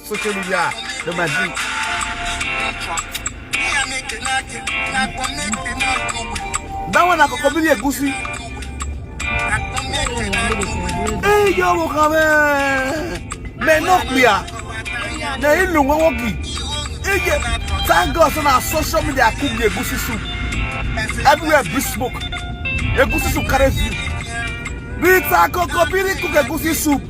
social media no ma drink. That one I go come here, Gucci. Hey, yo, mo kame. Me no clear. Na ilu nwa woki. Eye, thank God so na social media I cook the Gucci soup. Everywhere big smoke. Egusi soup carry view. Rita Kokobiri cook Egusi soup.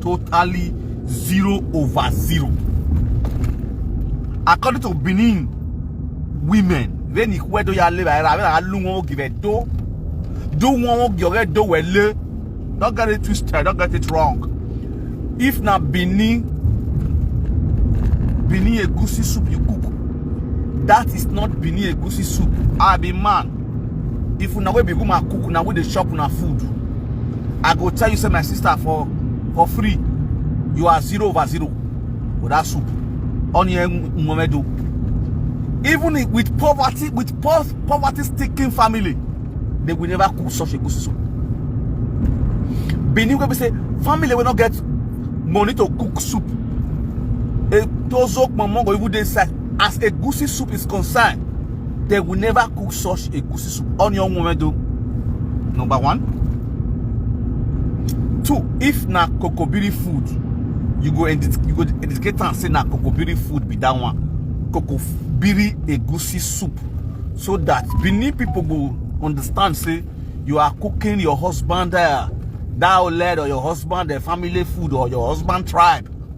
totally zero over zero. According to Benin women, ve ni kwe do ya le ba ra ba lu won give do do won give re do we le don't get it twisted don't get it wrong if na Benin Benin egusi soup you cook that is not Benin egusi soup I be man if una wey be woman cook una wey dey chop una food i go tell you say my sister for for free you are zero over zero with that soup onion nwomedo even with poverty with poverty sticking family they will never cook such a good soup benin wey be say family wey no get money to cook soup a tozo kpomon go even dey inside as egusi soup is concerned they will never cook such egusi soup on your own do number one two if na kokobiri food you go you go indicate and say na kokobiri food be that one kokobiri egusi soup so that benin people go understand say you are cooking your husband uh, that led or your husband uh, family food or your husband tribe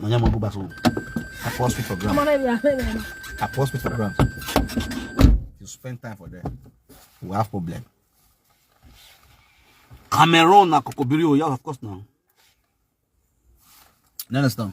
Manya mo go back so. I pour spit for ground. I pour spit for ground. You spend time for there. We have problem. Cameroon na kokobiri o, yeah, of course now. You understand?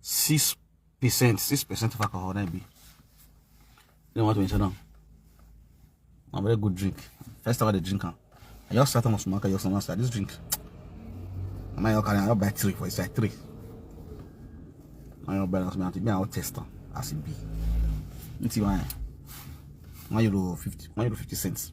six percent six percent of alcohol na be you want to mention am na very good drink first time i dey drink am i just start am on small i just wan start this drink na my carry am i just buy three for inside three na your balance me and me i wan test am as e be n ti wan one euro fifty one euro fifty cents.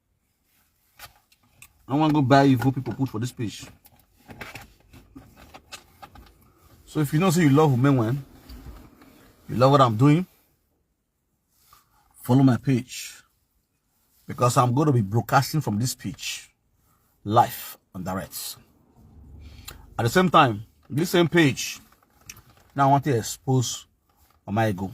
I want to go buy evil people put for this page. So if you know say you love women when you love what I'm doing, follow my page. Because I'm going to be broadcasting from this page live on direct. At the same time, this same page, now I want to expose Omaigo.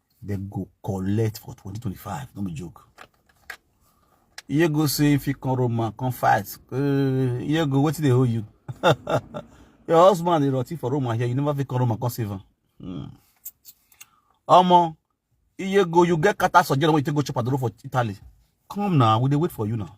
They go collect for 2025. No be joke. You go say if you come Roma, come fight. Uh, you go, what did they owe you? Your husband is rotting for Roma here. You never fit come Roma, come save him. Hmm. Omo, you go, you get kata surgery when you take go chop at the road for Italy. Come now, we dey wait for you now.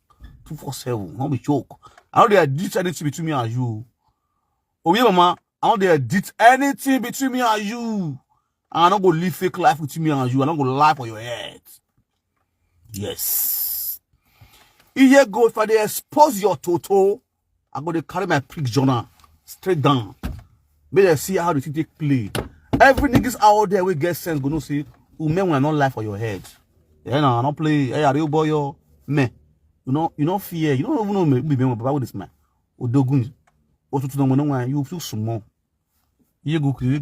two four seven no be joke i no dey edit anything between me and you Oh yeah, mama i no dey edit anything between me and you i no go live fake life with me and you i no go lie for your head yes iye go if i dey expose your toto I go to carry my prick journal straight down. May they see how the thing take play. Every niggas out there we get sense go no see who men will not lie for your head. Yeah, no, I don't play. Hey, are you boy yo? Me. You know, you know fear. You don't even know me. Be me, but with this man. Odogun. Otutu no mo no You feel small. You go create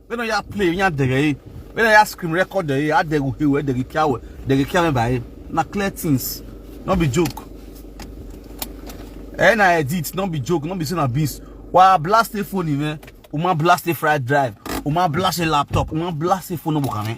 When I ya play, ya dere. When I ya scream record dere, I dere he we dere kia we dere kia me by. Na clear things, not be joke. And I edit, not be joke, not be saying a beast. Why blast a phone even? Uma blast a fried drive. Uma blast a laptop. Uma blast a phone no book, man.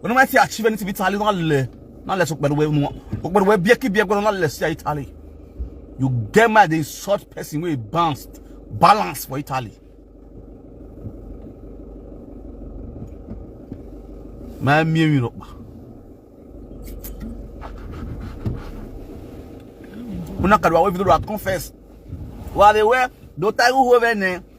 When I say achieve anything Italy, not le, not less but we no. But we be ki be go not less Italy. You get mad they short person we bounced balance for Italy. My mimi no. Una kadwa we video confess. Wa de we do tagu ho vene.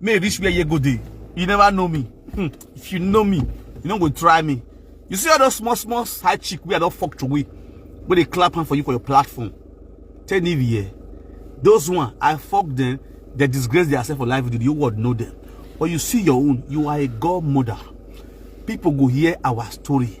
May reach where you go dey. You never know me. Hmm. If you know me, you no go try me. You see all those small, small side chick wey I don fuck to wey wey dey clap hand for you for your platform. Tell me here. Those one, I fuck them, they disgrace themselves for life. The whole world know them. But you see your own, you are a godmother. People go hear our story.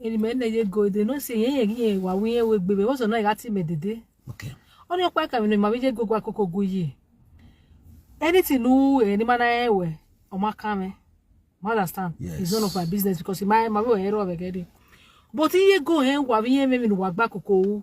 eri me ne ye go de no se ye ye ye wa wi ye we gbe be wo so na ga ti me dede Okay. oni opa ka mi ma bi je go gwa koko gu yi anything nu e ni ma na e we o ma ka me ma understand Yes. it's none of my business because my my we ero be gede but ye go hen wa wi ye me mi nu wa gba koko wu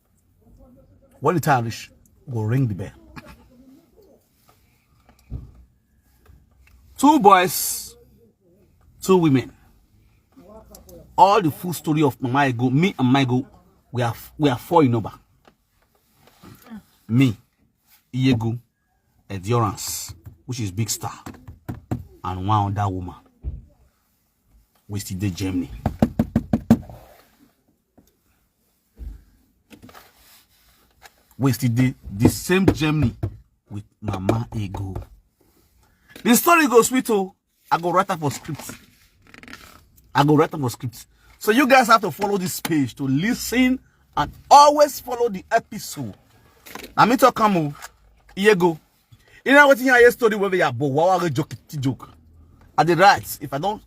when the time reach go ring the bell two boys two women all the full story of mama ego me and my ego we are we are four in number me Iego, Endurance, which is Big Star, and one other woman. We still did Germany. wey still dey the same germany with mama ego the story go sweet oh i go write am for script i go write am for script so you guys have to follow this page to listen and always follow the episode na me talk am o iye go. You know what you hear story where we are but wow I joke joke. At the right, if I don't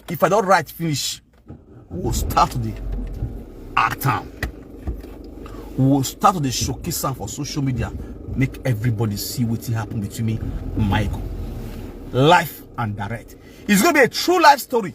if I don't write finish, we'll start the act time. We'll start the showcase time for social media. Make everybody see what happened between me and Michael. Life and direct. It's gonna be a true life story.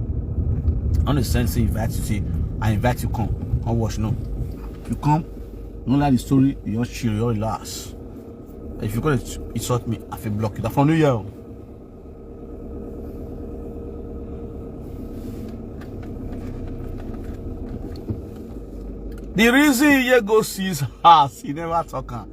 I don't send say invite you say I invite you come. Come watch no. You come, no like the story, you just chill, you relax. If you gonna insult me, I feel block you. That's for New Year. The reason you go see his house, he never talk.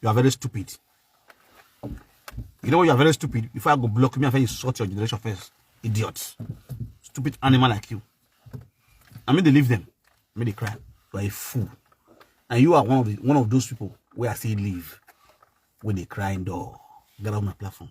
you are very stupid you know you are very stupid before i go block me i first insult your generation first idiot stupid animal like you i mean they leave them i mean they cry you are a fool and you are one of the one of those people where i say leave when they cry in door get off my platform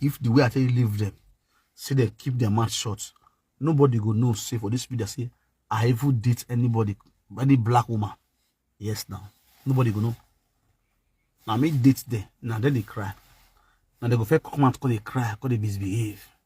if the way i tell you leave them say they keep their mouth shut nobody go know say for this video say i even date anybody any black woman yes now nobody go know Now me date them. Now then they cry Now they go first come out come they cry come they misbehave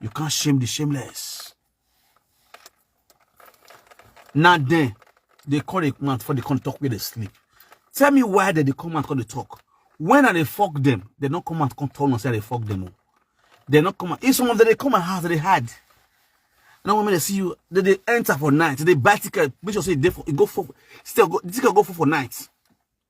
You can't shame the shameless. Now then, they call the man for the come talk where they sleep. Tell me why they, they come and call the talk. When are they fuck them? They don't come and come tell us they fuck them. They not come. If some of them they come and house they hide. Now when they see you, they, they enter for night. They buy ticket. Make sure say they for, go for still go ticket go for for night.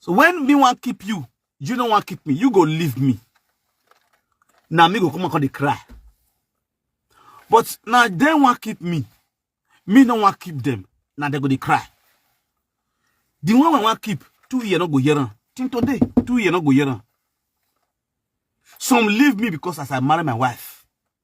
So when me want keep you, you don't want keep me. You go leave me. Now me go come and call the cry. But now they want keep me. Me don't want keep them. Now they go the cry. The one we want keep, two year not go here. Till today, two year not go here. Some leave me because as I marry my wife.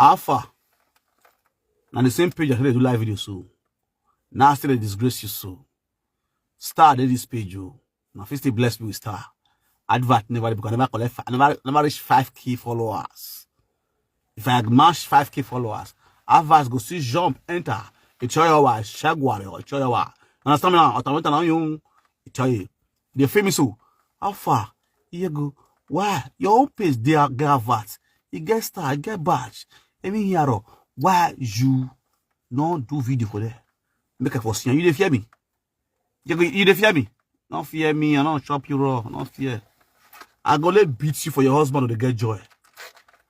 How far? Now the same page I created to live video so. Now I still disgrace you so. Star did this page you. Oh. Now first they bless me with star. Advert never because I never collect I never never reach 5k followers. If I match 5k followers, adverts go see jump enter. It's your wife, shagwari or it's your wife. Understand me now? Automate now you. It's your They feel me so. How far? You go. Why? Your own page, they are gravat. You get star, you get badge. Even here, why you no do video for there? Make a for see. You dey fear me? You, you dey fear me? Don't fear me. I don't chop you raw. Don't fear. I go let beat you for your husband to get joy.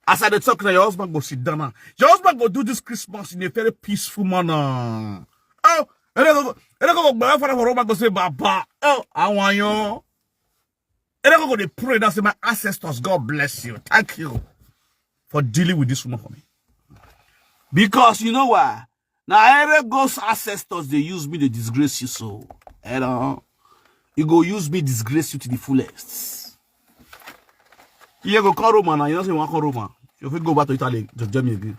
As I dey talk now, your husband go sit down. Your husband go do this Christmas in a very peaceful manner. Oh, Eleko go father for Roma go say Baba. Oh, I want you. Eleko go dey pray that say my ancestors, God bless you. Thank you for dealing with this woman for me. Because you know why? Now Erego's ancestors they use me to disgrace you so. You know, you go use me disgrace you to the fullest. You go call Roma now. You don't say you want call Roma. You fit go back to Italy to Germany again.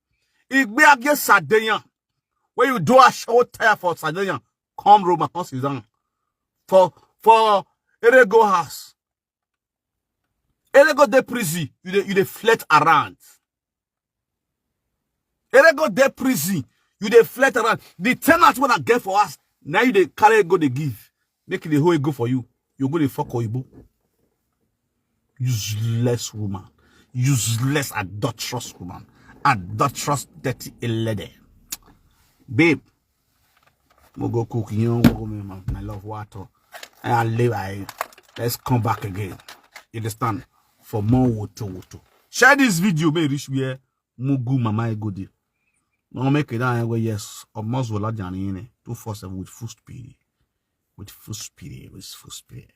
Igbe age Sardinia. When you do a show tire for Sardinia, come Roma, come sit down. For for Erego house. Erego de prison, you dey you dey flirt around. Erego de prison, you dey flirt around. The tenant when I get for us, now you dey carry go dey give. make e dey hold ego for you you go dey fuck oyibo useless woman useless adulterous woman adulterous dirty elede babe mo go cook yan wo me ma my love water and i live i let's come back again you understand for more woto woto share this video may e reach where mugu mama egodi no make it down go yes of most will not in two four seven with full speed with full speed with full speed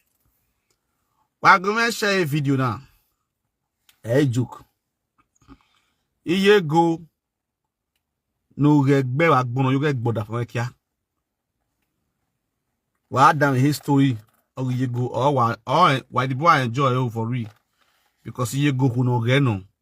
we're going to share a video now hey joke iye go no regbe wa gbono yo ge gboda fun kia wa down history of iye go or wa or why the boy enjoy over real because iye go no ge no